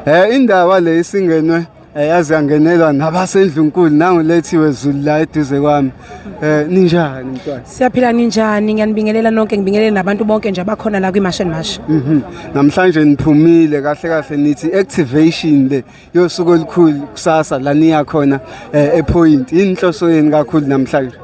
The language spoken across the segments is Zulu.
Eh indaba le isingenwe eh, yazi yangenelwa nabasendlunkulu nangu lethiwe Zulu la eduze kwami. Eh ninjani mntwana? Siyaphila ninjani? Ngiyanibingelela nonke, ngibingelele nabantu bonke nje abakhona la kwiMash and Mash. Mhm. Namhlanje niphumile kahle kahle nithi activation le yosuku olukhulu kusasa la niya khona eh ePoint. Inhloso yeni kakhulu namhlanje?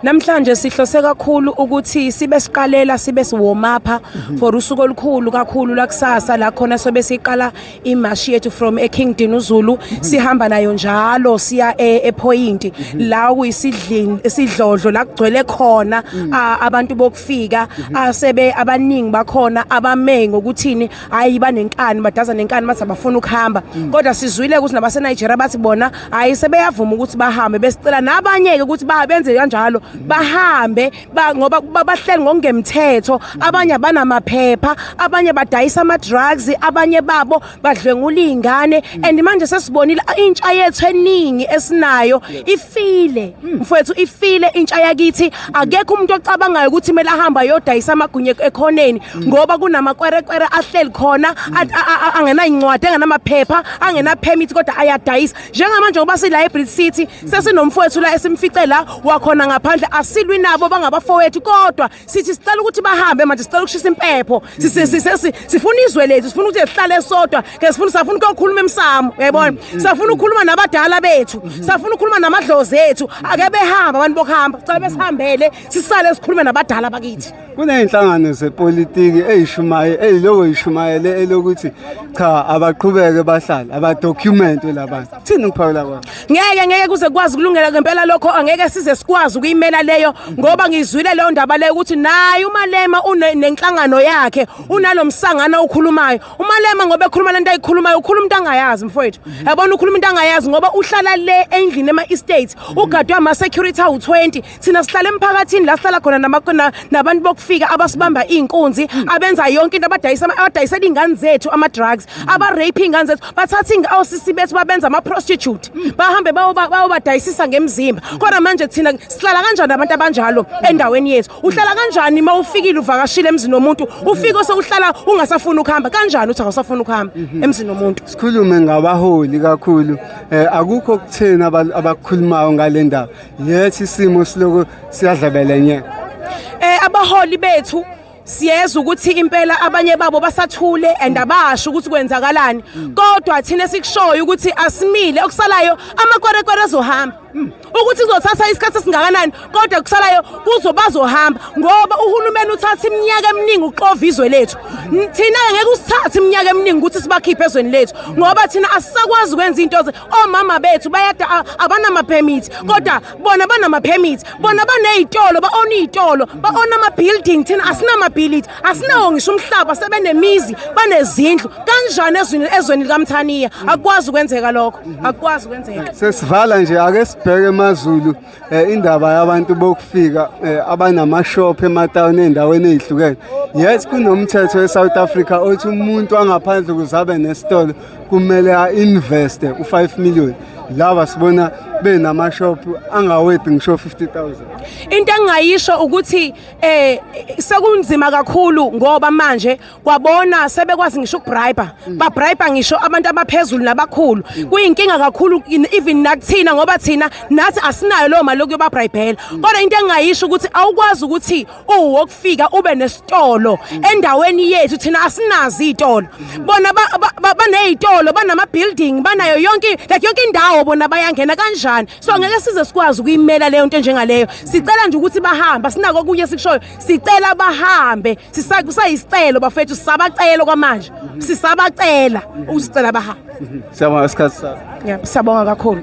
Namhlanje sihlose kakhulu ukuthi sibe siqalela sibe siwomapha for usuku olukhulu kakhulu lakusasa la khona sobe siqala imashi yethu from eKing Dinuzulu sihamba nayo njalo siya e- ePoint la kuyisidlini isidlodlo la kugcwele khona a- abantu bokufika asebe abaningi bakhona abame ngokuthini hayi banenkani badaza nenkani bathi abafuna ukuhamba mm. kodwa sizwile ukuthi nabaseNigeria bathi bona hayi sebeyavuma ukuthi bahambe besicela nabanye-ke ukuthi benze kanjalo mm. bahambe ngoba bahleli ngokungemthetho mm. abanye abanamaphepha abanye badayisa ama-drugs abanye babo badlwengula iy'ngane and manje sesibonile intsha yethu eningi esinayo ifile mfowethu ifile intsha yakithi akekho umuntu ocabangayo ukuthi kumele ahamba yodayisa amagunye ekhoneni ngoba kunamakwerekwere ahleli khona angenayincwadi engenamaphepha angenapermit kodwa ayadayisa njengamanje ngoba silibrary city sesinomfowethu la esimfice la wakhona ngaphandle asilwi nabo bangabafowethu kodwa sithi sicela ukuthi bahambe manje sicela ukushisa impepho sifuna izwe lethu sifuna ukuthi sihlale sodwa ke sifuna safuna ukuyokhuluma emsamo uyayibona mm, mm, safuna mm. ukukhuluma nabadala bethu mm-hmm. safuna ukukhuluma namadlozi ethu ake behamba abantu bokuhamba cela besihambele sisale sikhulume nabadala bakithi kuney'nhlangano zepolitiki eyishumaye eyiloko yishumayele elokuthi cha abaqhubeke bahlale abadocumente labantu thini ukuphawula kwabo ngeke ngeke kuze kukwazi ukulungela ngempela lokho angeke size sikwazi ukuyimela leyo ngoba ngizwile leyo ndaba leyo ukuthi naye umalema unenhlangano yakhe unalomsangano okhulumayo umalema ngoba ekhuluma lento ayikhulumayo ukhuluma into angayazi mfowethu mhm. yabona ukhuluma into angayazi ngoba uhlala le endlini ema estates mhm. ugadwe ama security awu 20 thina sihlala emphakathini la sihlala khona namakona nabantu bokufika abasibamba mhm. inkunzi abenza yonke into abadayisa abadayisela ingane zethu ama drugs aba rape ingane zethu bathatha inga osisi bethu babenza ama prostitute bahambe bawo badayisisa ngemzimba kodwa manje thina sihlala kanjani abantu abanjalo endaweni yethu uhlala kanjani uma ufikile uvakashile emzini womuntu ufike osewuhlala ungasafuni ukuhamba kanjani uthi awusafuni ukuhamba mhm. emzini womuntu sikhulume ngabaholi kakhulu eh, akukho okuthina abakhulumayo ngale ndaba yes isimo siloko siyadlabela nye eh abaholi bethu siyeza ukuthi impela abanye babo basathule and abasho ukuthi kwenzakalani mm. kodwa thina sikushoyo ukuthi asimile okusalayo amakwerekwere azohamba Mm. ukuthi kuzothatha isikhathi esingakanani kodwa kusalayo kuzo bazohamba ngoba uhulumeni uthatha iminyaka eminingi uxova izwe lethu thina-ke ngeke usithathe iminyaka eminingi ukuthi sibakhiphe ezweni lethu ngoba thina asisakwazi ukwenza into omama bethu bayada abanamaphemithi kodwa bona banamaphemithi bona baney'tolo ba-ona iy'tolo ba-ona ama-building thina asinamabhilidi asinawo ngisho umhlaba sebenemizi banezindlu kanjani ezweni ezweni likamthaniya akwazi ukwenzeka lokho akwazi ukwenzeka sesivala nje ake sibheke emazulu eh, indaba yabantu bokufika eh, abanamashop ematawuni endaweni ezihlukene yes kunomthetho eSouth Africa othi umuntu angaphandle kuzabe nesitolo kumele a investe u5 million laba sibona benamashop angawedi ngisho 50000 into engayisho ukuthi eh sekunzima kakhulu ngoba manje kwabona sebekwazi ngisho ukubribe mm. ba bribe ngisho abantu abaphezulu nabakhulu mm. kuyinkinga kakhulu even nakuthina ngoba thina nathi asinayo lo mali yokuba bribela mm. kodwa into engayisho ukuthi awukwazi ukuthi uwokufika ube nesitolo endaweni yethu thina asinazi izitolo bona banezitolo banama building banayo yonke like yonke indawo bona bayangena kanjani so ngeke size sikwazi ukuyimela leyo nto enjengaleyo sicela nje ukuthi bahambe sinako kunye sikushoyo sicela bahambe kusayisicelo bafethu sisabacelo kwamanje sisabacela ukusicela bahambe siyabonga isikhathi sakho siyabonga kakhulu